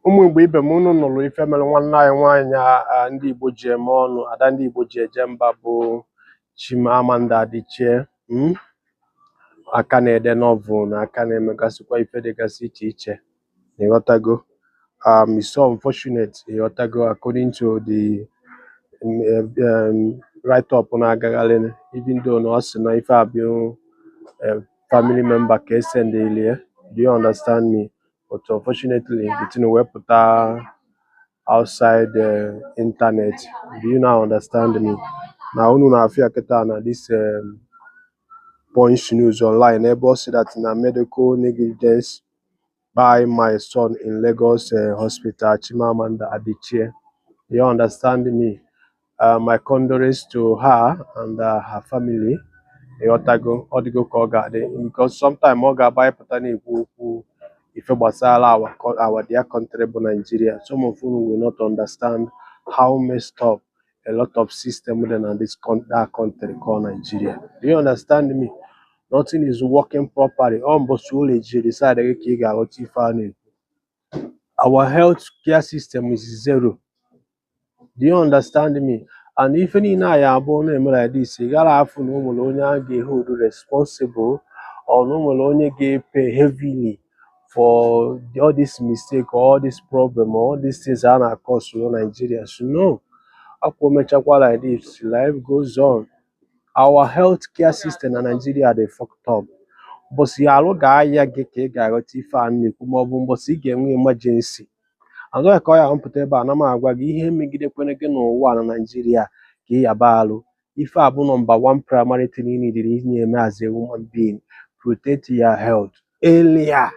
ụmụ Igbo ibe m unu nụrụ ife mere nwanne anyị nwaanyị a ndị Igbo ji eme ọnụ ada ndị Igbo ji eje mba bụ Chimamanda Adichie mm? aka na-ede novel na aka na-emegasịkwa ife dịgasị iche iche na ị ghọtago um, it's so unfortunate ị ghọtago according to the um, um, write up na-agagharị even though na ọ sị na ife a bụ um, family member ka esendịlie do you understand me but unfortunately the thing wee pụta outside the internet do you now understand me na unu na-afụ ya kịta na this um, Punch news online ebe ọ sị that na medical negligence kpai my son in Lagos uh, hospital Chimamanda Adichie you understand me uh, my condolences to her and uh, her family ị ghọtago ọ dịgo ka ọ ga-adị because sometime ọ ga-abụ anyị pụta na-ekwu okwu ife gbasara our, co- our dear country bụ Nigeria some of unu will not understand how messed up a lot of system dị na this con- that country called Nigeria do you understand me nothing is working properly ọ mbọsị ụlọ ejiri decide gị ka ị ga-aghọta ife a na-ekwu our health care system is zero do you understand me and ife niile a ya abụ ọ na-eme like this ị gara afụ na o nwere onye a ga-ehold responsible or na o nwere onye ga-epay heavily for the- all this mistake or all this problem or all these things a na-acause na Nigeria so no ọ kwa o mechakwa like this life goes on our health care system na Nigeria dị fucked up mbọsị arụ ga-aya gị ka ị ga-aghọta ife a na-ekwu maọbụ mbọsị ị ga-enwe emergency That's why ka ọ ya m pụta ebe a ana m agwa gị ihe megidekwere gị n'ụwa a na Naịjirịa ka ị yaba alụ. Ife a bụ number one primary thing ị needịrị ị na-eme as a human being protect your health earlier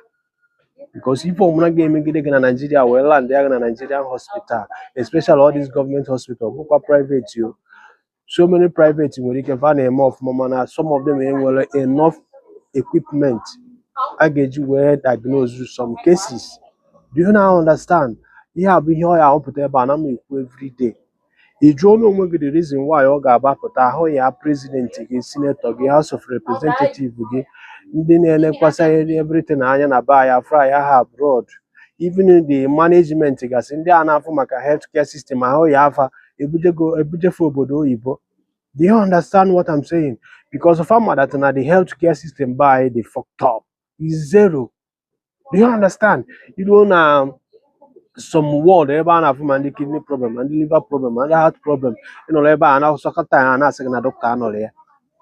because ife ọmụna ga-emegide gị na Naịjirịa wee landịa gị na Nigerian hospital especially all these government hospital bụkwa private o so many private nwere ike fa na-eme ọfụma mana some of them enwere enough equipment a ga-eji wee diagnose some cases do you now understand ihe a bụ ihe ọ ya abụ a pụta ebe a ana m ekwu everyday ị jụọna onwe gị the reason why ọ ga-abụ a pụta ahụ ya president gị senator gị house of representative gị ndị na-elekwasị everything anya na be anyị a flya ha abroad even the management gasị ndị a na-afụ maka health care system ahụ yaa fa ebujego ebujefe obodo oyibo do you understand what I'm saying because fa ma that na the health care system be anyị dị fucked up is zero do you understand ị luo na some ward ebe a na-afụ ma ndị kidney problem ma ndị liver problem ma ndị heart problem ị nọrọ ebe a na-achọ dọkịta a na-asị gị na dọkịta anọrọ ya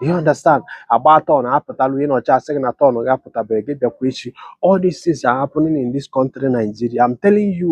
you understand agba turn apụtalụ ị nọcha a sị gị na turn gị apụtabeghị gị bịakwa echi all these things are happening in this country Nigeria I'm telling you